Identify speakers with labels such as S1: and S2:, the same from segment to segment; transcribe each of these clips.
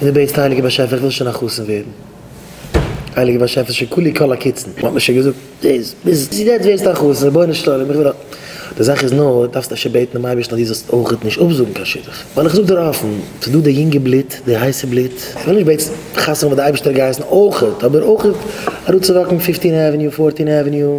S1: און דו בעטסט הייליגער באשעפער איך וויל שוין א חתן ווערן, הייליגער באשעפער שוין כולי כל הקיצין, מ'האט מיר שוין געזאגט דאס, ביז יעצט ווערסטו א חתן, רבונו של עולם איך וויל א. די זאך איז נאר, דו דארפסט אפשר בעטן דעם אייבערשטן אז דו זאלסט אויך נישט אפזאגן קיין שידוך, ווייל איך זאג דיר אפן, ס'איז דא די יונגע בלוט, די הייסע בלוט, איך וויל נישט בעטס חתונה וואס די אייבערשטער האט געהייסן אויך, אבער אויך אראפצואוואקן פופטין עוועניו, פארטין עוועניו.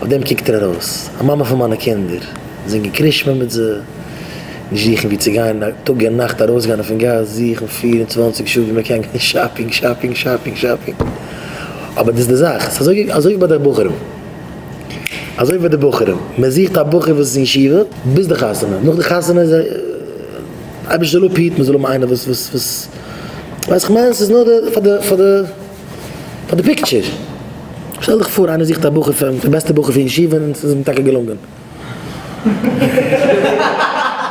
S1: אויף דעם קוקט ער ארויס. א מאמע פון מיינע קינדער. זינגען קרישמע מיט זיי. נישט זוכן וואו צו גיין טאג און נאכט. ארויסגיין אויפן גאס. זוכן פֿיר און צוואַנציק שעה וואו מען קען גיין שאפינג, שאפינג, שאפינג, שאפינג. אבער דאס איז די זאך. ס'איז אזוי אזוי ווי ביי די בחורים. אזוי ווי ביי די בחורים. מען זוכט א בחור וואס איז אין ישיבה ביז די חתונה. נאך די חתונה איז ער. אייבערשטער זאל אפהיטן מען זאל האבן איינער וואס וואס וואס. ווייסעך מיין ס'איז נאר די פאר די פאר די. פאר די פיקטשער. שטעל דיך פאר איינער זוכט א בחור פאר די בעסטע בחור פון ישיבה און עס איז אים טאקע געלונגען.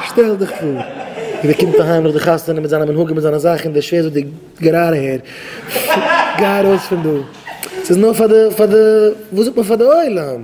S1: שטעל דיך פאר ווי ער קומט אהיים נאך די חתונה מיט זיינע מנהגים מיט זיינע זאכן דער שווער זאגט די גער אהער גיי ארויס פון דא. ס'איז נאר פאר די פאר די וואס זאגט מען פאר די עולם.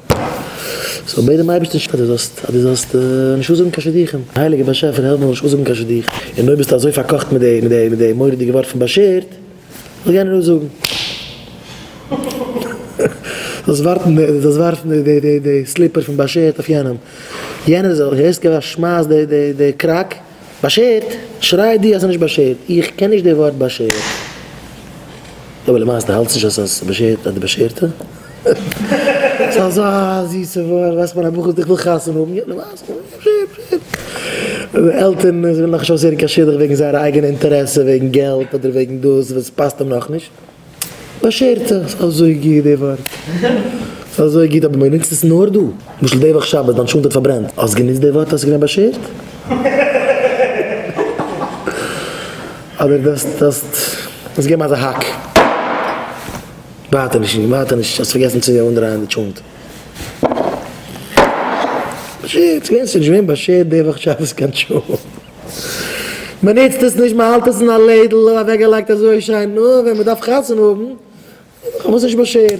S1: כ'זאל בעטן דעם אייבערשטן אז דו זאלסט אז דו זאלסט נישט אנזאגן קיין שידוכים, הייליגער באשעפער העלף מיר זאל נישט אנזאגן קיין שידוך, און אויב ביסטו אזוי פארקאכט מיט די מיט די מיט די מורא'דיגע ווארט פון באשערט, זאל יענער אנזאגן. דו זאלסט ווארפן די דו זאלסט ווארפן די די די סליפער פון באשערט אויף יענעם, יענער זאל הערסט גיבן א שמייס די די די קראק. באשערט? שריי דו אז ס'נישט באשערט, איך קען נישט די ווארט באשערט. יא אבער למעשה די האלטסט נישט אז ס'איז באשערט אז די באשערטע? ס'איז אזא זיסע ווארט, ווייסט מיין א בחור דיך וויל חתונה האבן, יא למעשה איז באשערט, באשערט. און די עלטערן זיי ווילן נאכנישט אויסהערן קיין שידוך וועגן זייערע אייגענע אינטערעסע, וועגן געלט אדער וועגן דאס וואס ס'פאסט אים נאכנישט. באשערט עס אזוי גוט די ווארט ס'איז אזוי גוט אבער מ'נוצט עס נאר דא למשל די וואך שבת דיין שונד האט פארברענט האסט גענוצט די ווארט האסט געווען באשערט? אדער דארפסט דארפסט געבן אזא האק ווייטער נישט ווייטער נישט האסט פארגעסן צו אנדרייען די שונד באשערט ס'איז געווען ס'איז נישט געווען באשערט די וואך שבת קיין שונד. מען נוצט עס נישט, מען האלט עס אין א לעדל אוועקגעלייגט אזוי שיין, נאר ווען מען דארף חתונה האבן, האט זיך עס נישט באשערט.